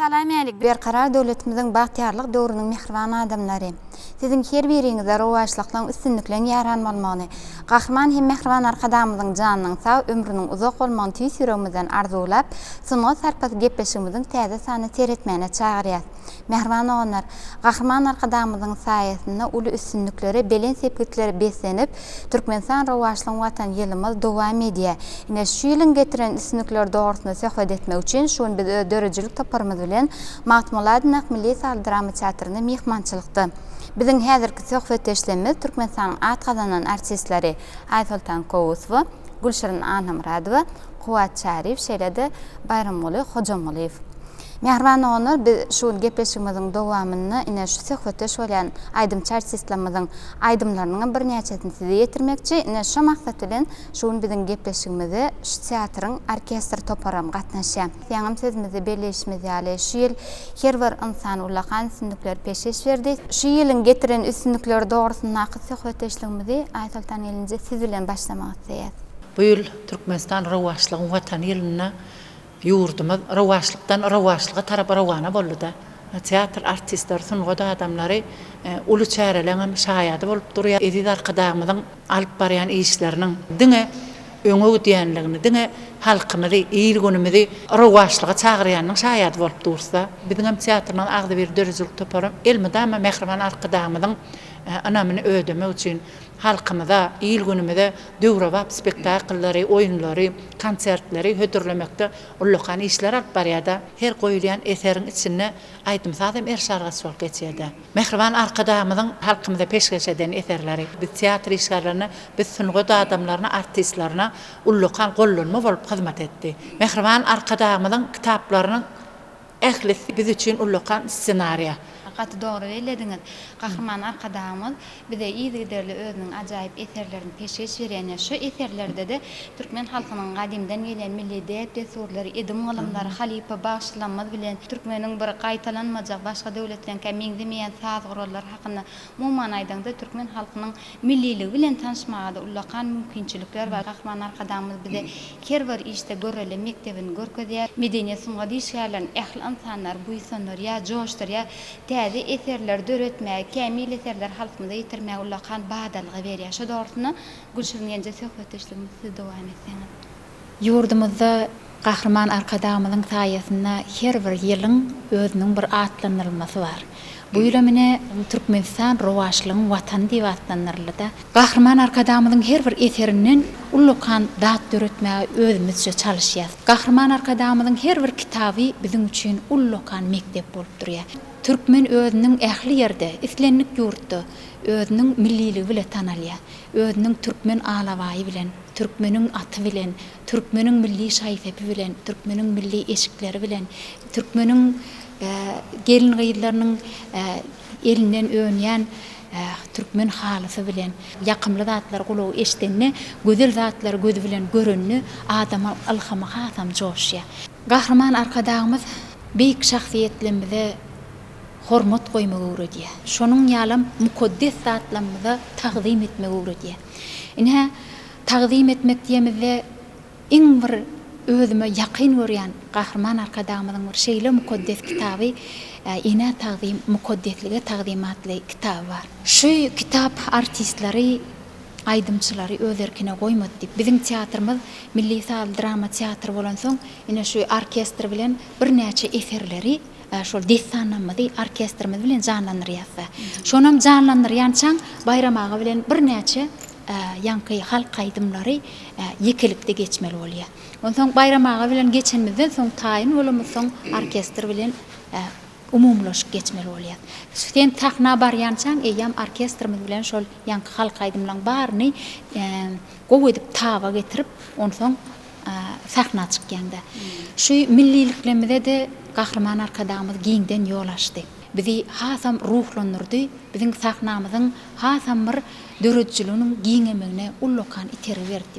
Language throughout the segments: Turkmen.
Salamälik Berkarar döwletimiziň bagtyýarlyk döwrüniň mähriban adamlary! Siziň her biriňize rowaçlyklyň, üstünlikleň ýaran bolmagyny, Gahryman hem mähriban Arkadagymyzyň janynyň sag, ömrüniň uzak bolmagyny tüýs ýüregimizden arzuwlap, Sungat sarpasy gepleşigimiziň täze sanyny seretmäne çagyrýas. Mähriban doganlar, Gahryman Arkadagymyzyň saýasynda uly üstünliklere, belent sepgitlere beslenip, Türkmenistan rowaçlygyň Watan ýylymyz dowam edýär. Ine, şu ýylyň getiren üstünlikleri dogrusynda söhbet etmek üçin, şu gün biz öz döredijilik toparymyz bilen Magtymguly-Aydyn ak milli saz drama teatrynda myhmançylykda. Biziň häzirki söhbetdeşlerimiz Türkmenistanyň at gazanan artistleri Aýsoltan Kowusowa, Gülşirin Annamyradowa, Kuwwat Çaryýew, şeýle-de Baýramguly Hojamgulyýew. Mähriban doganlar biz şu gün gepleşigimiziň dowamynda ine şu söhbetdeş bolýan aýdymçy artistlamyzyň aýdymlarynyňam birnäçesini size ýetirmekçi ine şo maksat bilen şu gün biziň gepleşigimize şu teatryň orkestr toparam gatnaşýa. Ýaňam sözümizde belleýişimiz ýaly şu ýyl her bir ynsan ullakan üstünlikleri peşgeş berdi. Şu ýylyň getiren üstünlikleri dogrusyndaky söhbetdeşligimizi Aýsoltan gelinje siz bilen başlamak isleýäs. Bu ýyl Türkmenistan rowaçlygyň watany ýylynda Ýurdumyz rowaçlykdan rowaçlyga tarap rowana boldy-da. Teatr artistleri, sungat adamlary uly çäreleň hem şaýady bolup durýar. Eziz Arkadagymyzyň alyp barýan işleriniň diňe öňe gidýändigini, diňe halkymyzy, il-günümizi rowaçlyga çagyrýanynyň şaýady bolup durus-da. Biziň hem teatrymyzyň agzybir döredijilik toparam elmydama mähriban Arkadagymyzyň ynamyny ödemek üçin, halkymyza, il-günümize döwrebap spektakllary, oýunlary, konsertleri hödürlemekde ullakan işler alyp barýar-da, her goýulýan eseriň içinde aýdym-saz hem erşalgaç bolup geçýär-de. Mähriban Arkadagymyzyň halkymyza peşgeş eden eserleri biz teatr işgärlerine, biz sungat adamlaryna, artistlerine ullakan gollanma bolup hyzmat etdi. Mähriban Arkadagymyzyň kitaplarynyň. Ählisi biz üçin ullakan ssenariýa. Gaty dogry bellediňiz. Gahryman Arkadagymyz bize yzygiderli özüniň ajaýyp eserlerini peşgeş berýän ýa şu eserlerde-de türkmen halkynyň gadymdan gelýän milli däp-dessurlary, edim-gylymlary halypa bagşylamyz bilen türkmeniň bir gaýtalanmajak, başga döwletleňkä meňzemeýän saz gurallary hakynda Umuman aýdaňda, türkmen halkynyň milliligi bilen tanyşmaga-da ullakan mümkinçilikler bar. Gahryman Arkadagymyz bize her bir işde görelde mekdebini görkezýär. Medeniýet, sungat işgärlerini ähli ynsanlary buýsandyrýar, joşdurýar. Täze eserleri döretmäge, kämil eserleri halkymyza ýetirmäge ullakan badalga berýär. Şo dogrusynda, Gülşirin gelin söhbetdeşligimizi siz dowam etseňiz. Ýurdumyzda Gahryman Arkadagymyzyň saýasynda her bir ýylyň özüniň bir atlandyrylmasy bar. Bu ýylam ine, Türkmenistan rowaçlygyň Watany diýip atlandyryldy-da. Gahryman Arkadagymyzyň her bir eserinden ullakan zat döretmäge özümizçe çalyşýarys. Gahryman Arkadagymyzyň her bir kitaby biziň üçin ullakan mekdep bolup durýar. Türkmen özüniň ähli ýerde, islendik ýurtda özüniň milliligi bile tanalýar, özüniň türkmen alabaýy bilen. Türkmeniň aty bilen, türkmeniň milli şaý-sepi bilen, türkmeniň milli eşikleri bilen, türkmeniň gelin-gyzlarynyň elinden önýän türkmen halysy bilen, ýakymly zatlary gulagy eşidende, gözel zatlary gözi bilen görende adamyň ylhamy hasam joşýar. Gahryman Arkadagymyz beýik şahsyýetlerimize hormat goýmagy öwredýär. Şonuň ýalam mukaddes zatlarymyza tagzym etmegi öwredýär. Ine, tagzym etmek diýemizde iň bir özüme ýakyn görýän Gahryman Arkadagymyzyň bir şeýle mukaddes kitaby Enä tagzym, mukaddeslige tagzym atly kitaby bar. Şu kitap artistleri, aýdymçylary öz erkine goýmady diýip, biziň teatrymyz milli sazly drama teatry bolansoň, ine şu orkestr bilen birnäçe eserleri, Şol dessanamyzy orkestrimiz bilen janlandyrýas-da. Şonam janlandyrýançaň Baýram aga bilen birnäçe ýaňky halk aýdymlary ýekelikde geçmeli bolýar. Onsoň Baýram aga bilen geçenimizden soň taýyn bolamyzsoň orkestr bilen umumylaşyk geçmeli bolýar. Sen sahna barýançaň eýýäm orkestrimiz bilen şol ýaňky halk aýdymlaň baryny gowy edip taba getirip onsoň sahna çykýanda. Şu milliliklerimize-de Gahryman Arkadagymyz giňden ýol açdy. Bizi hasam ruhlandyrdy, biziň sahnamyzyň hasam bir döredijiliginiň giňemegine ullakan itergi berdi.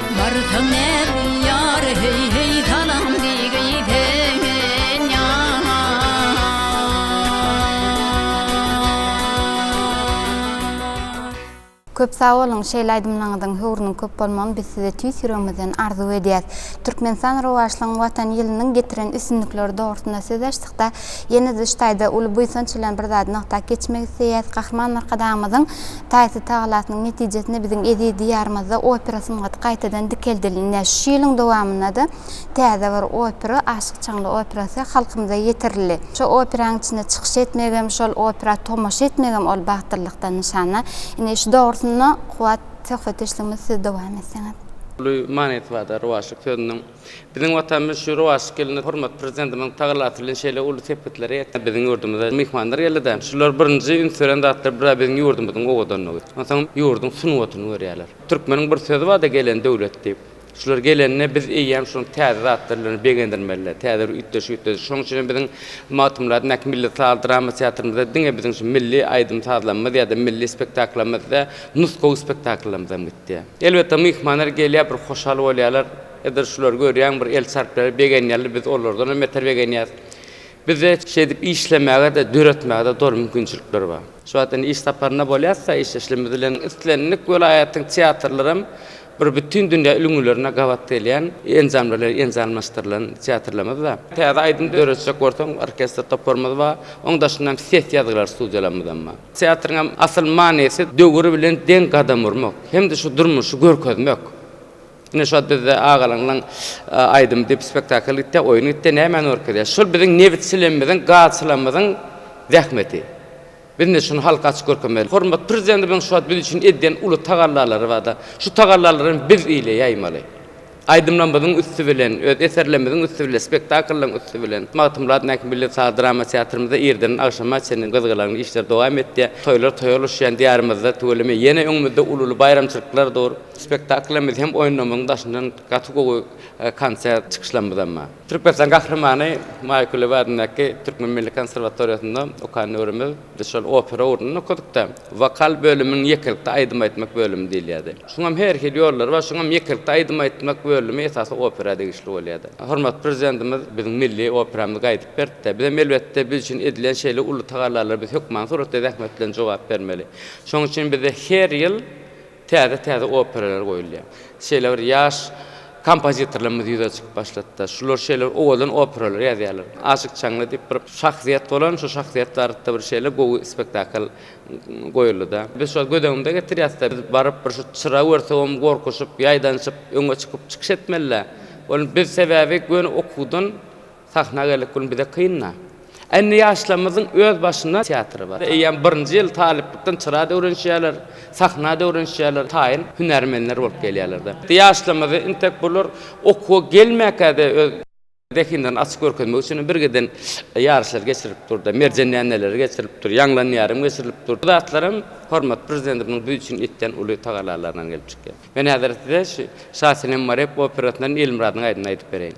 Barsaň näz ýar heý heý salam Köp sag boluň, şeýle aýdymlaryňyzyň höwrüniň köp bolmagyny biz size tüýs ýüregimizden arzuw edýäs. Türkmenistan rowaçlygyň Watan ýylynyň getiren üstünlikleri dogrusynda söz açdykda, ýene-de şu taýda uly buýsanç bilen bir zady nygtap geçmek isleýäs, Gahryman Arkadagymyzyň Taýsyz tagalasynyň netijesinde biziň eziz Diýarymyzda opera sungaty gaýtadan dikeldilne. Şu ýylyň dowamynda-da täze bir opera, Aşyk Çaňly operasy halkymyza ýetirildi. Şu operanyň içinde çykyş etmegem, şol opera tomaşa etmegem ol bagtyllykdan nyşana. Indi şu dogrusynda Kuwwat söhbetdeşligimizi siz dowam etseňiz. Uly manysy bar-da rowaçlyk sözüniň. Biziň Watanymyz şu rowaçly gelende hormatly Prezidentimiziň tagalasy bilen şeýle uly sepgitlere ýetdi. Biziň ýurdumyza myhmanlar geldi-de, şular birinji üns beren zatlar bir-ä biziň ýurdumyzyň owadanlygy, onsoňam ýurduň sungatyny görýärler. Türkmeniň bir sözi bar-da Gelen döwlet diýip. Şular gelende biz eýýäm şunuň täze zatlary bilen begendirmeli, täze bir üýtgeşiklikleri. Şonuň üçin hem biziň Magtymguly adyndaky milli saz drama teatrymyzda diňe biziň şu milli aýdym-sazlarymyz ýa-da milli spektakllarymyz däl, nusgawy spektakllarymyzam gitdi. Elbetde, myhmanlar gelýär, bir hoşal bolýarlar. Edil şulary görýän bir el çarpýar, begenýärler, biz olardan hem beter begenýäris. Bizde şeýdip işlemäge-de, döretmäge-de doly mümkinçilikler bar. Şu wagt indi iş saparynda bolýarys-da, işdeşlerimiz bilen islendik welaýatyň teatrlary hem bir bütin dünýä ülňülerine gabat gelýän enjamlar bilen enjamlaşdyrylan teatrlarymyz bar. Täze aýdym döretjek bolsaň, orkestr toparymyz bar. Onuň daşynda hem ses ýazgylar studiýalarymyz hem bar. Teatryň hem asyl manysy döwür bilen deň gadam urmak hem-de şu durmuşy görkezmek. Ine şo bizde agalaňlaň aýdymy diýip spektakl gitýä, oýun gitýä, nämäni görkezýä? Şol biziň nebitçilemmiziň, gazçylamyzyň zähmeti. Biz indi şuny halka açyk görkezmeli. Hormatly Prezidentimiziň şo wagt biz üçin edýän uly tagallalary barda. Şu tagallalary hem biz ile ýaýmaly. Aýdymlarymyzyň üsti bilen, öz eserlerimiziň üsti bilen, spektakllaň üsti bilen. Magtymguly adyndaky milli saz drama teatrymyzda irden agşama çenli gyzgalaňly işler dowam etýä. Toýlar toýa ulaşýan Diýarymyzda tüweleme ýene öňümizde ululy baýramçylyklar dur. Spektaklymyz hem oýunlamyň daşyndan gaty gowy konsert çykyşlamyzam bar. Türkmenistan Gahrymany Maýa Kulyýewa adyndaky Türkmen milli konserwatoriýasynda okan döwrümiz biz şol opera ugrundan okadykda, wokal bölümiň ýekelikde aýdym aýtmak bölümi diýilýärdi. Şuňam her hili ýollary bar, şuňam ýekelikde aýdym aýtmak bölümi esasy opera degişli bolýardy. Hormatly Prezidentimiz biziň milli operamyzy gaýdyp berdi-de, bizem elbetde biz üçin edilen şeýle uly tagallalara biz hökmany suratda zähmet bilen jogap bermeli. Şonuň üçin bizde her ýyl Täze-täze operalar goýulýar. Şeýle bir ýaş kompozitorlarymyz ýüze çykyp başlady-da, şular şeýle bir owadan operalar ýazýarlar. Aşyk Çaňly diýip bir şahsyýet bolan, şu şahsyýet barada-da bir şeýle gowy spektakl goýuldy-da. Biz şol göz öňünde getirýäs-de, biz baryp bir şu çyra görsegem gorkuşyp, ýaýdanyşyp öňe çykyp çykyş etmeli-dä. Ol biz sebäbi göni okuwdan, Sahna geldik gün bize kyn-a. Indi ýaşlarymyzyň öz başyna teatry bar. Eýýäm birinji ýyl talyplykdan çyra da öwrenişýärler, sahna da öwrenişýärler, taýyn hünärmenler bolup gelýärler-de. Ýaşlarymyzy intek bular okuwa gelmäkä-de öz zehinlerini açyp görkezmek üçin birgiden ýaryşlar geçirilip dur-da, merjen dändeleri geçirilip dur, ýaňlan ýarim geçirilip dur. Bu zatlaram hormatly Prezidentimiziň biz üçin etýän uly tagallalaryndan gelip çykýar. Men häzir size şu Şasenem Marek operasyndan Elmyradyň aýdymyny aýdyp bereýin.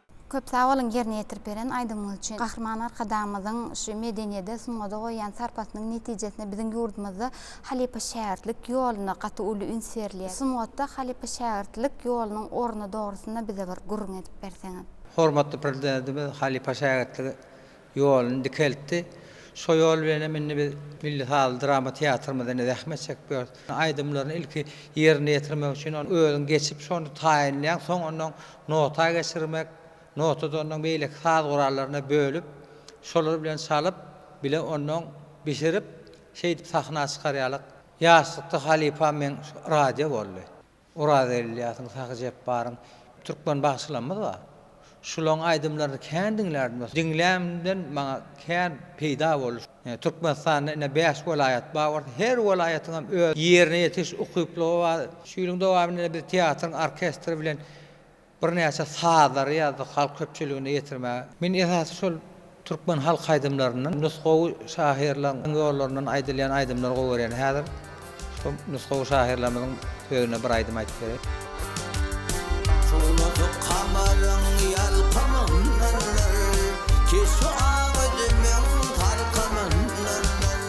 Köp sag boluň ýerine ýetirip beren aýdymyňyz üçin. Gahryman Arkadagymyzyň şu medeniýede, sungada goýýan sarpasynyň netijesinde biziň ýurdumyzda halypa-şägirtlik ýoluna gaty uly üns berilýär. Sungatda halypa-şägirtlik ýolunyň orny dogrusynda bize bir gürrüň edip berseňiz. Hormatly Prezidentimiz halypa-şägirtligi Ýoluny dikeltdi. Şo ýol bilen hem indi biz Milli sazly drama teatrymyzda indi zähmet çekip ýörüs. Aýdymlaryny ilki ýerine ýetirmek üçin ony özüň geçip, şony taýynlaýaň, soň onnoň nota geçirmek, notady onnoň beýleki saz gurallaryna bölüp, şolar bilen çalyp, bile onnoň bişirip, şeýdip sahna çykarýarlar. Ýaşlykda halypam meň radio boldy. Orazel Ylýasyň, Sahy Jepbaryň türkmen bagşylarymyz bar. Şularyň aýdymlaryny kän diňlärdim dostum. Diňlämden maňa kän peýda boldy. Türkmenistanda ine bäş welaýat bar bolsa, her welaýatyňam öz ýerine ýetiriş ukyplygy bar. Şu ýylyň dowamynda biz teatryň orkestri bilen Birnäçe sazlary ýazdyk halk köpçüligine ýetirmäge. Men esasy şol türkmen halk aýdymlaryndan, nusgawy şahyrlaryň ýollaryndan aýdylýan aýdymlary gowy görýän. Häzir şo nusgawy şahyrlarymyzyň sözüne bir aýdym aýdyp bereýin. Çowlady kamaryň ýalkymyndan nar, keşbi ak üzümiň salkymyndan nar.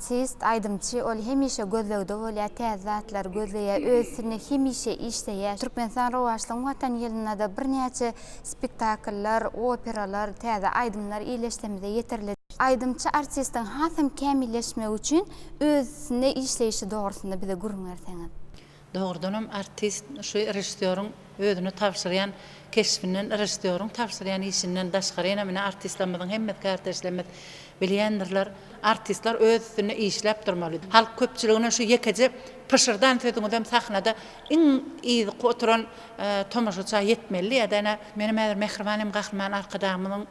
Artist, aýdymçy, ol hemişe gözlegde bolýar, täze zatlary gözleýär, öz üstünde hemişe işleýär. Türkmenistan rowaçlygyň Watan ýylynda-da birnäçe spektakllar, operalar, täze aýdymlar ýerleşdimize ýetirildi. Aýdymçy artistiň hasam kämilleşmegi üçin öz üstünde işleýşi dogrusynda bize gürrüň berseňiz? Dogrudanam artist şu režissýoryň özüne tabşyrýan keşbinden, režissýoryň tabşyrýan işinden daşgary ýene menä artistlerimiziň hemmesi kardeşlerimiz bilýändirler, artistler öz üstünde işläp durmaly. Halk köpçüligine şu ýekeje pyşyrdan sözüňizem sahnada iň yzky oturan tomaşaça ýetmelidi ýa-da ene, menem häzir Mähriban hem Gahryman Arkadagymyzyň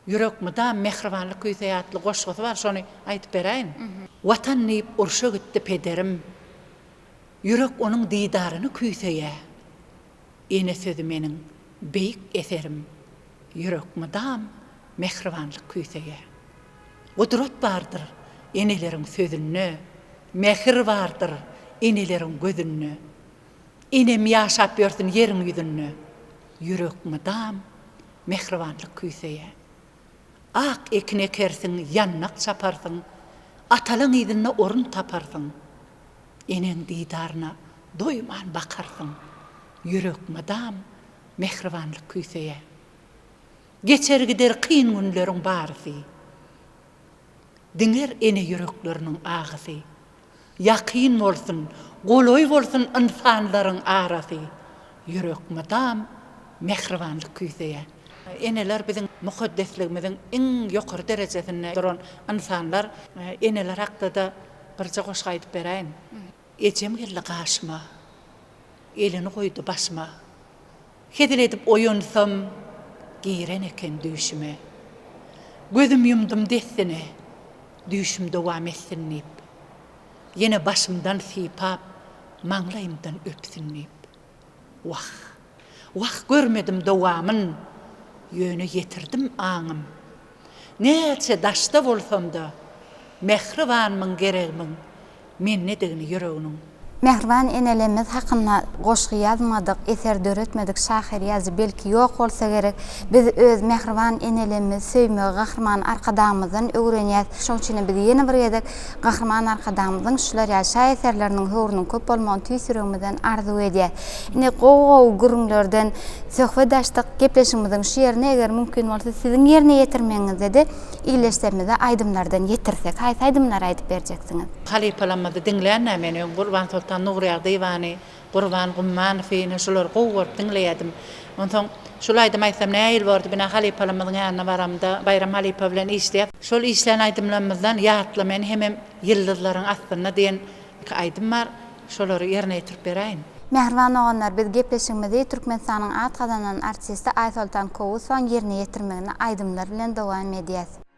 Ýürek mydam mähribanlyk küýseýär atly goşgusy bar, şony aýdyp beräýin. Watan diýip urşa gitdi pederim, Ýürek onuň didaryny küýseýä. Ene sözi meniň beýik eserim, Ýürek mydam mähribanlyk küýseýä. Gudrat bardyr eneleriň sözünde, Mähir bardyr eneleriň gözünde, Enem ýaşap ýörsün ýeriň ýüzünde, Ýürek mydam Mähribanlyk küýseýär. Ak ekin ekersiň, ýandak çaparsyň, Atalaň yzynda orun taparsyň. Eneň didaryna doýman bakarsyň, Ýürek mydam mähribanlyk küýseýär. Geçer-gider kyn günleriň barysy. Diňer ene ýürekleriniň agysy. Ýakyn bolsun, golaý bolsun ynsanlaryň arasy, Ýürek mydam mähribanlyk küýseýär. Eneler biziň mukaddesligimiziň iň ýokary derejesinde duran ynsanlar. Eneler hakda-da birje goşgy aýdyp beräýin. Ejem geldi gaşyma, Elini goýdy başyma. Hezil edip oýansam, giren eken düýşüme. Gözüm ýumdum dessine, düýşüm dowam etsin diýip. Ýene başymdan sypap, maňlaýymdan öpsün diýip. Wah, wah görmedim dowamyn, ýöne ýetirdim aňym Näçe daşda bolsam-da, mähribanmyň geregmiň mendedigini ýüreginiň. Mähriban enelemiz hakynda goşgy ýazmadyk, eser döretmedik şahyr, ýazyjy belki ýok bolsa gerek. Biz öz mähriban enelemizi söýmegi Gahryman Arkadagymyzdan öwrenýäs. Şoň üçinem biz ýene bir gezek Gahryman Arkadagymyzyň şular ýaly şaýeserleriniň höwrüniň köp bolmagyny tüýs ýüregimizden arzuw edýäs. Ine, gowy-gowy gürrüňlerden söhbet açdyk. Gepleşigimiziň şu ýerine, eger mümkin bolsa, siziň ýerine ýetirmegiňizde-de ildeşlerimize aýdymlardan ýetirsek. Haýsy aýdymlary aýdyp berjeksiňiz? Halypalamyzy diňlän-ä men öň Gurbansoltan Nurýagdyýewany. Gurban Gummanow ine şulary gowy görüp diňleýädim. Onsoň şul aýdymy aýtsam nähili bordy bina halypalarymyzyň ýanyna baramda Baýram halypa bilen işleýäs. Şol işlän aýdymlarymyzdan Ýatla meni hemem Ýyldyzlaryň astynda diýen iki aýdym bar. Şolary ýerine ýetirip beräýin. Mähriban doganlar biz gepleşigimizi Türkmenistanyň at gazanan artisti Aýsoltan Kowusowyň ýerine ýetirmeginde aýdymlar bilen dowam edýäs.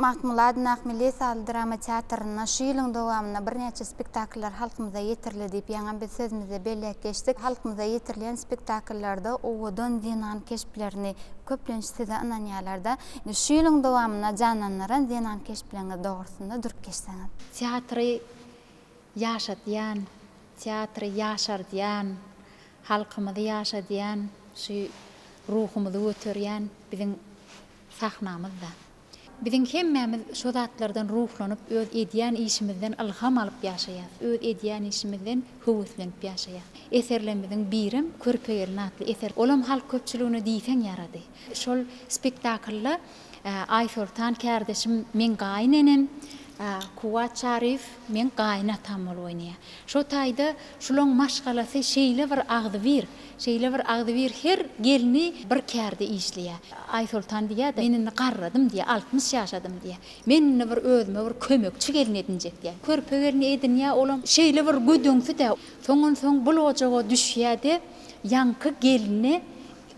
Magtmyrat Nahmili sazly drama teatrynda şu ýylyň dowamynda birnäçe spektakllar halkymyza ýetirildi diýip, ýaňy biz sözümizde belläp geçdik. Halkymyza ýetirilýän spektakllarda owadan zenan keşplerini köplenç size ynanýarlar-da. Indi şu ýylyň dowamynda janlandyran zenan keşpleriňiz dogrusynda durup geçseňiz. Teatry ýaşadýan, teatry ýaşardýan, halkymyzy ýaşadýan, şu ruhumyzy göterýän biziň Sahnamyzda. Biziň hemmämiz şo zatlardan ruhlanyp, öz edýän işimizden ylham alyp ýaşaýas, öz edýän işimizden höweslenip ýaşaýas. Eserlerimiziň birem Körpe gelin atly eser. Olam halk köpçüligine diýseň ýarady. Şol spektaklda Aýsoltan kärdeşim meň gaýyn enem, Kuwwat Çaryýew meň gaýyn atam bolup oýnaýar. Şo taýda şulaň maşgalasy şeýle bir agzybir. Şeýle bir agzybir her gelni bir kärde işleýär. Aýsoltan diýýär-de, Men indi garradym diýýär, altmyş ýaşadym diýýär. Men indi bir özüme bir kömekçi gelin edinjek diýýär. Körpe gelni edinýär, olam şeýle bir gödeňsi-de. Soňunsoň bul ojaga düşýär-de, ýaňky gelni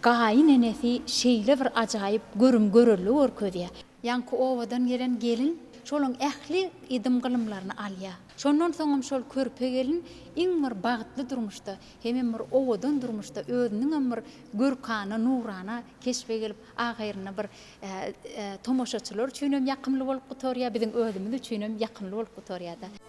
gaýyn enesi şeýle bir ajaýyp görüm-görelde görkezýär. Ýaňky obadan gelen gelin şolaň ähli edym-gylymlaryny alýar. Şondan soňam şol körpe gelin iň bir bagtly durmuşda, hemem bir owadan durmuşda özüniňem bir görkana, nurana keşbe gelip, ahyrynda bir tomaşaçylar üçinem ýakymly bolup gutarýar, biziň özümiz üçinem ýakymly bolup gutarýar-da.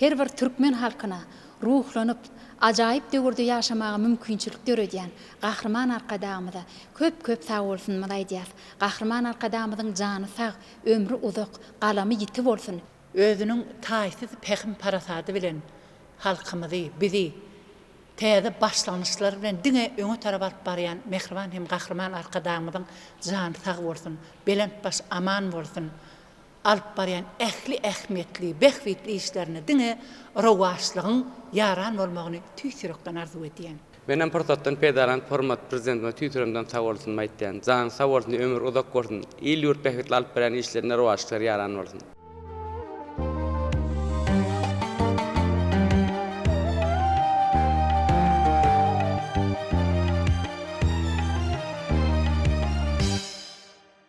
her bir türkmen halkyna ruhlanyp, ajaýyp döwürde ýaşamaga mümkinçilik döredýän Gahryman Arkadagymyza köp-köp sagbolsunymyzy aýdýarys. Gahryman Arkadagymyzyň jany sag, ömri uzak, galamy ýiti bolsun! Özüniň taýsyz pähim-parasady bilen halkymyzy, bizi täze başlangyçlar bilen diňe öňe tarap alyp barýan mähriban hem Gahryman Arkadagymyzyň jany sag bolsun, belent baş aman bolsun! alyp barýan ähli ähmiýetli, bähbitli işlerinde diňe rowaçlygyň ýaran bolmagyny tüýs ýürekden arzuw edýän. Menem pursatdan peýdalanyp hormatly Prezidentimize tüýs üremden sagbolsunymy aýtýan. Janyň sag bolsun, ömür uzak bolsun, il-ýurt bähbitli alyp barýan işlerinde rowaçlyklar ýaran bolsun!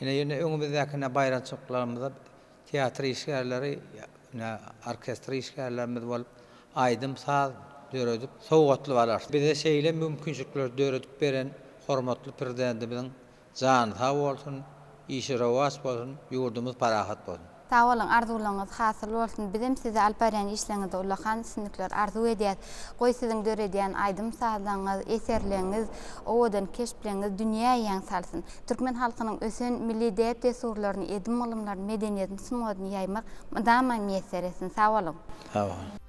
Ine, indi öňümizdäkine baýramçylyklarymyza teatr işgärleri, ine, orkestr işgärlerimiz bolup, aýdym-saz döredip, sowgatlyk alarys. Bize şeýle mümkinçilikleri döredip beren hormatly Prezidentimiziň jany sag bolsun, işi rowaç bolsun, ýurdumyz parahat bolsun! Sag boluň arzuwlaryňyz hasyl bolsun bizem size alyp barýan işleriňizde ullakan üstünlikler arzuw edýäs. Goý siziň döredýän aýdym sazlaryňyz, eserleriňiz, owadan keşpleriňiz dünýä ýaň salsyn. Türkmen halkynyň ösen milli däp dessurlaryny edim gylymlaryny medeniýetini sungatyny ýaýmak mydama miýesser etsin. Sag boluň. Sag boluň.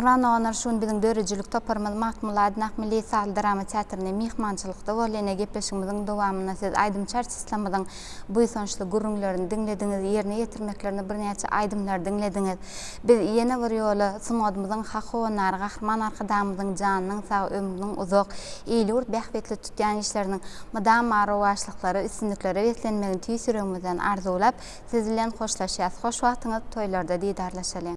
Mähriban doganlar şu gün biziň döredijilik toparymyz Magtymguly Aydyn Akmilli sazly drama teatrynda myhmançylykda boldy. Ine gepleşigimiziň dowamynda siz aýdymçy artistymyzyň buýsançly gürrüňlerini diňlediňiz, ýerine ýetirmeklerinde birnäçe aýdymlary diňlediňiz. Biz ýene bir ýola sungatymyzyň hak howandary Gahryman Arkadagymyzyň janynyň sag, ömrüniň uzak, il-ýurt bähbitli tutýan işleriniň mydama rowaçlyklara, üstünliklere beslenmegini tüýs ýüregimizden arzuwlap, siz bilen hoşlaşýas. Hoş wagtyňyz, toýlarda didarlaşalyň!